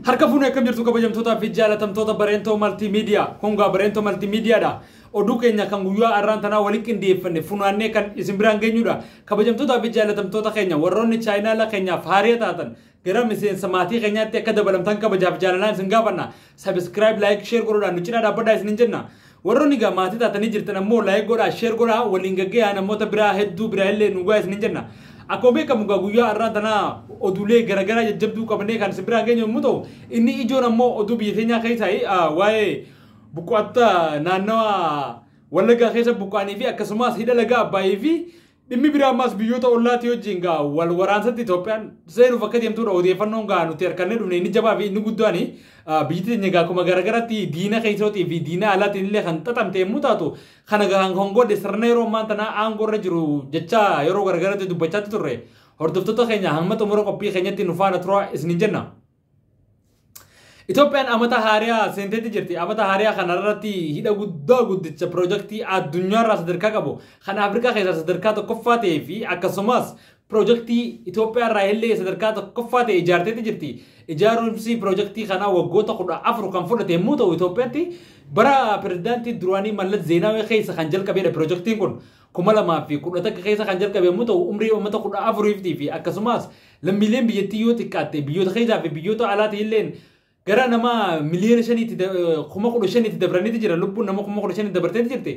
Harka fuunee akkam jirtu kabajamtootaa fi jaalatamtoota Bareentoo Maltiimiidiyaa. Kun gaa Bareentoo Maltiimiidiyaadha. Oduu keenya kan guyyaa har'aan tanaa walitti qindeeffanne funaannee kan isin biraan geenyudha. Kabajamtootaa fi jaalatamtoota keenya warroonni chaayinaala keenyaaf haariya taatan gara miseensa maatii keenyaatti akka dabalamtan kabajaaf jaalalaan isin gaafanna. Sabiskiraayib, laayik, sheer godhuudhaan nu cinaa dhaabbadhaa isinin jenna. Warroni egaa maatii taatanii jirtan ammoo like godhaa, share godhaa, waliin gaggeeyaa namoota biraa hedduu biraa illee nu gahaa isiniin jenna. Akkuma beekamu egaa guyyaa har'aa tana oduulee garagaraa jajjabduu qabannee kan isin biraan geenyu yommuu ta'u, inni ijoon ammoo oduu biyya keenyaa keessaayi waa'ee buqqaattota naannawa Wallaggaa keessa buqqaanii fi akkasumas hidha laga Abbaayii fi Dhimmi biraa ammaas biyyoota ollaatii wajjin gaa wal waraansatti Itoophiyaan seenuuf akka deemtudha odeeffannoon gaa nuti harkannee dhufne inni jabaa fi inni guddaan biyyi teenya gaa akkuma garaagaraatti diina keessootii fi diina alaatiin illee kan xaxamte yommuu taatu kana gaa kan godhe sirna yeroo ammaan tanaa aangoo irra jiru jecha yeroo garaagaraatti dubbachaatti turre hordoftoota keenya hamma xumura qophii keenyatti nu faana turaa isinin jenna. Itoophiyaan amata haariyaa seenteetti jirti. Amata haariyaa kanarratti hidha guddaa guddicha piroojaktii addunyaarraa sadarkaa qabu kan Afrikaa keessaa sadarkaa tokkoffaa ta'ee fi akkasumas piroojaktii Itoophiyaarraa illee sadarkaa tokkoffaa ta'e ijaarteetti jirti. Ijaarumsi piroojaktii kanaa waggoota kudha afur kan fudhate yommuu ta'u Itoophiyaatti bara pirezidaantii duraanii Mallas Zeenaawee keessa kan jalqabedha piroojaktiin kun. kuma lamaa fi kudha takka keessa kan jalqabe yommuu ta'u umrii uummata kudha afuriiftii fi akkasumas lammiileen biyyattii yoo xiqqaatte biyyoota keessaa fi biyyoota alaatii illeen gara nama miliyoona shaniitti da- eh, kuma kudha shaniitti dabraniiti jira lubbuun nama kuma kudha shaniitti dabarteeti jirti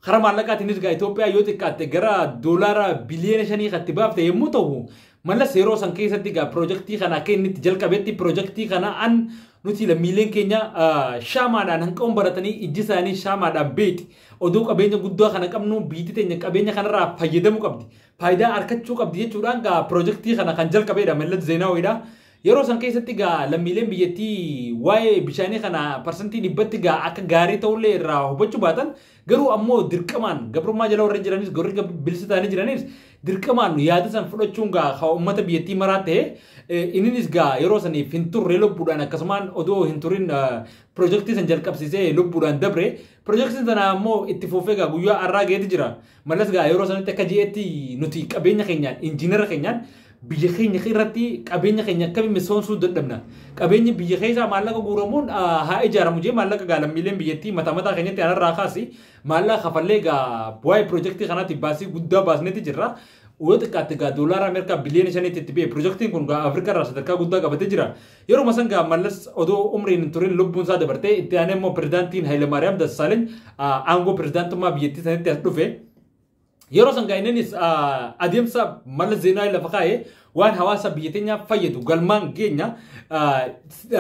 karaa maallaqaatiin ergaa Itoophiyaa yoo xiqqaatte gara doolaara biliyoona shanii kan itti baafte yommuu ta'u mallas yeroo san keessatti egaa piroojaktii kana akka inni itti jalqabetti piroojaktii kana an nuti lammiileen keenya ah, shaamaadhaan hanqaun baratanii ijji isaanii shaamaadhaan beeti Odoo qabeenya guddaa kana qabnuu biyyitti teenya qabeenya kanarraa fayyadamu qabdi, faayidaa arkachuu qabdi jechuudhaan gaa pirojektii kana kan jalqabeedha Mellat Zeenaawiidha. Yeroo san keessatti gaa lammiileen biyyattii waa'ee bishaanii kana parsantii dhibbatti gaa akka gaarii ta'ullee irraa hubachuu baatan garuu ammoo dirqamaan gabrummaa jala warri jiranis gorri bilisa ta'anii jiranis dirqamaan yaada san fudhachuun gaa kan uummata biyyattii maraa ta'e inninis gaa yeroo saniif hin turre lubbuudhaan akkasumaan odoo hin turin pirojektii san jalqabsiisee lubbuudhaan dabre Pirojektiin sana ammoo itti fuufee egaa guyyaa har'aa geeti jira. Mallas egaa yeroo sanatti akka jeetti nuti qabeenya keenyaan injiinara keenyaan biyya keenya irratti qabeenya keenya akkamiin misoomsuu dadhabna. Qabeenyi biyya keessaa maallaqa guuramuun ah, haa ijaaramu jee maallaqa egaa lammiileen biyyattii mataa mataa keenyatti anarraa kaasi maallaqa kafallee egaa waa'ee pirojektii kanaatti baasii guddaa baasneeti jirra. Yoo xiqqaatte egaa doolaara Ameerikaa biliyoona shaniitti itti ba'e pirojektiin kun egaa Afrikaa irraa sadarkaa guddaa qabatee jira. Yeruma san gaa Mallas odoo umriin hin turin lubbuun isaa dabartee itti aanee immoo pirezidaantiin Hayilamaariyaam Dassaaleny aangoo pirezidaantummaa biyyattii sanitti as dhufe. Yeroo san gaa inninis adeemsa Mallas Zeenaawii lafa kaa'e waan hawaasa biyya teenyaaf fayyadu galmaan geenya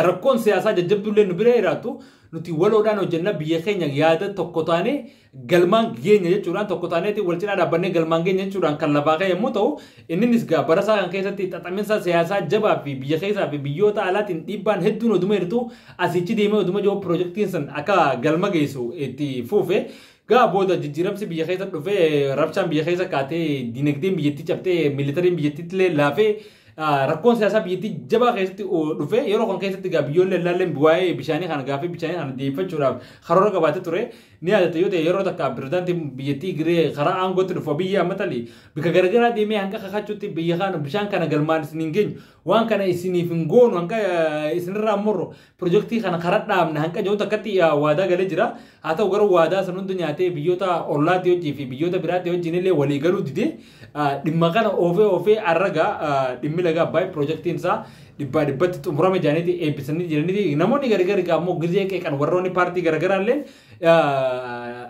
rakkoon siyaasaa jajjabduu illee nu bira jiraatu nuti waloodhaan hojjenna biyya keenya yaada tokko taanee galmaan geenya jechuudhaan tokko taaneeti wal cinaa dhaabbannee galmaan geenya jechuudhaan kan lafaa ka'e yommuu ta'u inninis gaa barasaa kan keessatti xaxaminsa siyaasaa jabaa fi biyya keessaa fi biyyoota alaatiin dhiibbaan hedduun oduma jirtu asichi deemee oduma jiru pirojektiin san akka galma geessu itti fuufe gaa booda jijjiiramsi biyya keessa dhufe rabshaan biyya keessa kaatee dinagdeen biyyattii cabtee miilitariin biyyattiitti illee laafee rakkoon siyaasaa biyyattii jabaa keessatti dhufe yeroo kan keessatti gaa biyyoollee ilaalleen waa'ee bishaanii kana gaaffii bishaanii kana deebifachuudhaaf karoora qabaatee ture Ni yaadatta yoo ta'e yeroo takka pirezidaantiin biyyattii Giree karaa aangootti dhufu Abiyyi Ahmad Ali bika garagaraa deemee hanga kakachuutti biyya kana bishaan kana galmaan isin hin geenyu waan kana isiniif hin goonu hanga eh, isinirraa morru pirojektii kana karaa dhaabna hanga jiru takkatti eh, waadaa galee jira. Haa ta'u garuu waadaa san hunda nyaatee biyyoota ollaatti hojii fi biyyoota biraatti hojiin illee walii galuu didee Dhimma kana oofee oofee arraga dhimmi laga Abbaay piroojaktiin isaa dhibbaa dhibbatti xumurame jedhaniiti eebbisanii jiraniiti. Namoonni gargar egaa ammoo gizee qeeqan warroonni paartii garagaraa illee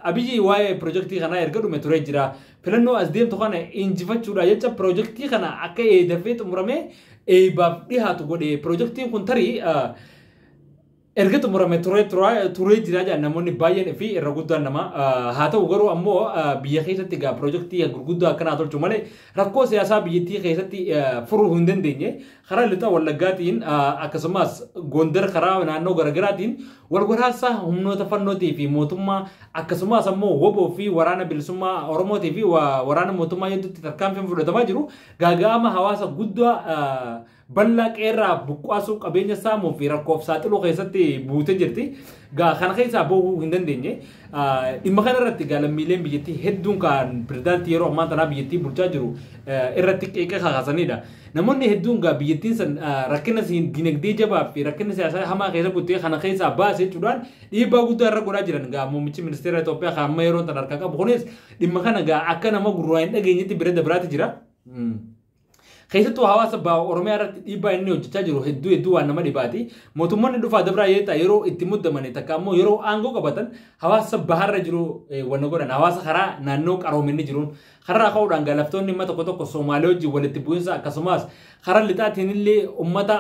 Abiyyi waa'ee piroojaktii kanaa erga dhume turee jira. Filannoo as deemtu kana injifachuudha jecha piroojaktii kana akka eedafee xumuramee eebaaf dhihaatu godhe. Piroojaktiin kun tarii erga xumurame turee tura- turee jira jedhan namoonni baay'een fi irra guddaan nama Ah, haa ta'u garuu ammoo ah, biyya keessatti egaa pirojektii gurguddaa akkanaa tolchu malee rakkoo siyaasaa biyyattii keessatti ah, furuu hin dandeenye karaa lixa wallaggaatiin ah, akkasumas gondar karaa naannoo garaagaraatiin wal waraansa humnoota fannootii fi mootummaa akkasumas ammoo woboo fi waraana bilisummaa oromootii fi wa- waraana mootummaa hedduutti tarkaanfiin fudhatamaa jiru gaaga'ama hawaasa guddaa ah, Ballaa qeerraa buqqaasuu qabeenya saamuu fi rakkoof saaxiluu keessatti buutee jirti. Gaa kana keessaa bahuu hin dandeenye. Dhimma kana irratti gaa lammiileen biyyattii hedduun kan pirezidaantii yeroo ammaa tanaa biyyattii bulchaa jiru irratti qeeqa kakaasanidha. Namoonni hedduun gaa biyyattiin san rakkina dinagdee jabaa fi rakkina siyaasaa hamaa keessa buttee kana keessaa baase jechuudhaan dhiibbaa guddaa irra godhaa jiran gaa muummichi ministeera Itoophiyaa kan amma yeroo tan harkaa qabu kunis dhimma kana gaa akka nama gurraa hin dhageenyetti bira dabraati jira. keessattuu hawaasa baha Oromiyaa irratti dhiibbaa inni hojjechaa jiru hedduu hedduu waan nama dhibaati. Mootummoonni dhufaa dabraa yeetaa yeroo itti muddamanii takka ammoo yeroo aangoo qabatan hawaasa baharra jiru wanna godhan hawaasa karaa naannoo qaroominni jiruun karaa ka'uudhaan galaftoonni dhimma tokko tokko Soomaalee wajjin walitti bu'insa akkasumas karaa lixaatiin illee uummata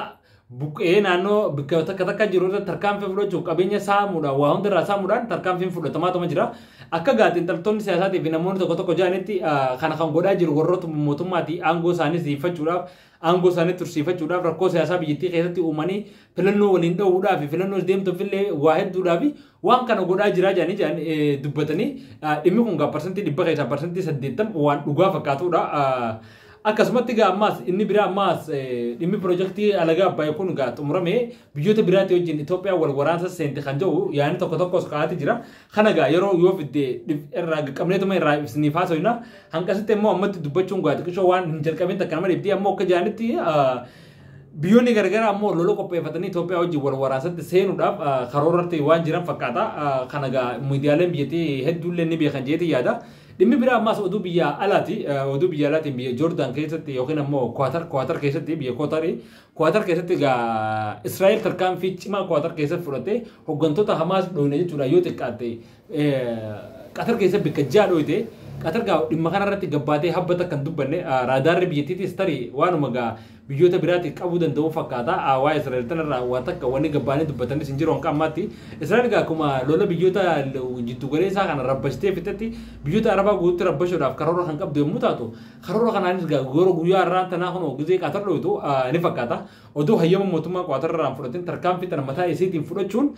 buqqa'ee naannoo bakka takka takka jiru irratti tarkaanfii fudhachuuf qabeenya saamuudhaan waa hunda irraa saamuudhaan tarkaanfiin fudhatamaa tuma jira. Akka gaatiin xaltoonni siyaasaatii fi namoonni tokko tokko jedhanitti ah, kana kan godhaa jiru warroota mootummaati aangoo isaanii siiffachuudhaaf aangoo isaanii tursiifachuudhaaf rakkoo siyaasaa biyyattii keessatti uumanii filannoo waliin dha'uudhaa fi filannoo deemtuuf illee waa hedduudhaa fi Waan kana godhaa jiraa jedhanii jedhanii dubbatanii dhimmi kun gaa parsantii dhibba keessaa parsantii saddeettam waan dhugaa fakkaatudha. Akkasumatti gaa ammaas inni biraa ammaas dhimmi pirojektii alagaa abbaayii kun gaa xumuramee biyyoota biraatti wajjin Itoophiyaan wal waraansa seente kan jedhu yaadni tokko tokkos ka'aati jira. Kana gaa yeroo yoo fidde irraa qabneetuma irraa ibsiniif haasofna. Hanqasitti immoo ammatti dubbachuun gaa xiqqishoo waan hin jalqabin takka nama dhibdee ammoo akka jedhanitti Biyyoonni garagaraa ammoo lola qopheeffatanii Itoophiyaa wajjin wal waraasatti seenuudhaaf karoorratti waan jiran fakkaata. Kana egaa miidiyaaleen biyyattii hedduullee ni beekan jeetii yaada. Dhimmi biraa ammaas oduu biyya alaati. Oduu biyya alaatiin biyya Joordaan keessatti yookiin ammoo Kuwaatar Kuwaatar keessatti biyya Kuwaatarii Kuwaatar keessatti egaa Israa'el tarkaanfii cimaa Kuwaatar keessatti fudhattee hooggantoota Hamaas dhooyne jechuudha yoo xiqqaatte Qatar keessa bikka ja'a dhooyte Qatar gaa dhimma kana irratti gabbaatee habba takka hin dubbanne raadaarri biyyattiitis tarii waanuma gaa biyyoota biraatiif qabuu danda'u fakkaata waa Israa'el tanarraa waa takka wanni gabbaanii dubbatanis hin jiru hanga ammaatti Israa'el gaa akkuma lola biyyoota jiddu galeessaa kana rabbashtee fixetti biyyoota Arabaa guututti rabbashuudhaaf karoora kan qabdu yommuu taatu karoora kanaanis gaa yeroo guyyaa irraa tanaa kun gizee Qatar dhooytu ni fakkaata oduu hayyama mootummaa Qatar irraa hin fudhatin tarkaanfii tana mataa isiitiin fudhachuun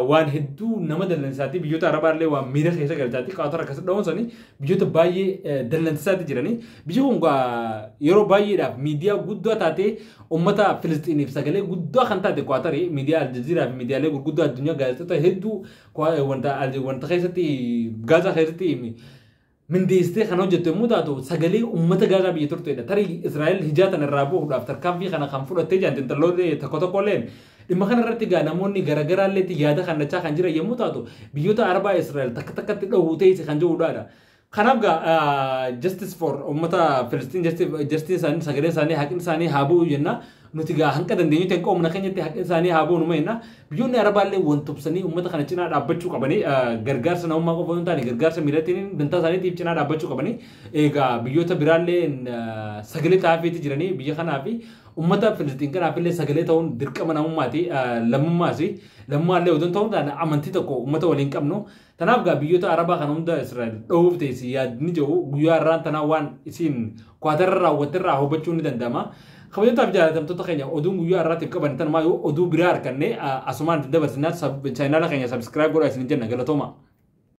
waan hedduu nama dallansaatti biyyoota arabaallee waan miira keessa galchaatti qaatara akkas dha'uun sanii biyyoota baay'ee dallansaatti jiranii biyyi kun yeroo baay'eedhaaf miidiyaa guddaa taatee uummata Filistiiniif sagalee guddaa kan taate qaatari miidiyaa Aljaziiraa fi miidiyaalee gurguddaa addunyaa gaazexota hedduu wanta keessatti gaazaa keessatti mindeessitee kan hojjettu yommuu taatu sagalee uummata Gaazaa biyya turteedha. Tarii Israa'el hijaa tana irraa bahuudhaaf tarkaanfii kana kan fudhattee jiran xinxalloonni tokko tokko illeen dhimma kana irratti egaa namoonni garaagaraa illeetti yaada kannachaa kan jiran yommuu taatu biyyoota Arabaa Israa'el takka takkatti dhahuu teessi kan jedhuudhaadha. Kanaaf egaa justice for uummata Filistiin justice isaanii sagalee isaanii haqni isaanii haa bu'u jenna. Nuti gaa hanga dandeenyutti hanga humna keenyatti haqni isaanii haa goonu meenna. Biyyoonni Arabaallee wal tubsanii uummata kana cinaa dhaabbachuu qabanii gargaarsa namummaa qofa hin taane gargaarsa miilatiin dantaa isaaniitiif cinaa dhaabbachuu qabanii egaa biyyoota biraallee sagalee taafeeti jiranii biyya kanaa fi uummata Filistiin kanaaf illee sagalee ta'uun dirqama namummaati lammummaasi lammummaa illee odoo hin ta'uun amantii tokko uummata waliin qabnu Tanaaf gaa biyyoota Arabaa kana hunda Israa'el dhoowwuuf teessi yaadni jedhu guyyaa har'aan tanaa waan isiin Kwaatarra raawwatte irraa hubachuun ni danda'ama. Kabajamtootaaf jaalatamtoota keenya oduun guyyaa har'aatiif qaban tanumaa yoo oduu biraa arkanne asumaan isin dabarsinaa chaayinaala keenya sabiskiraayib godhaa isin jenna galatooma.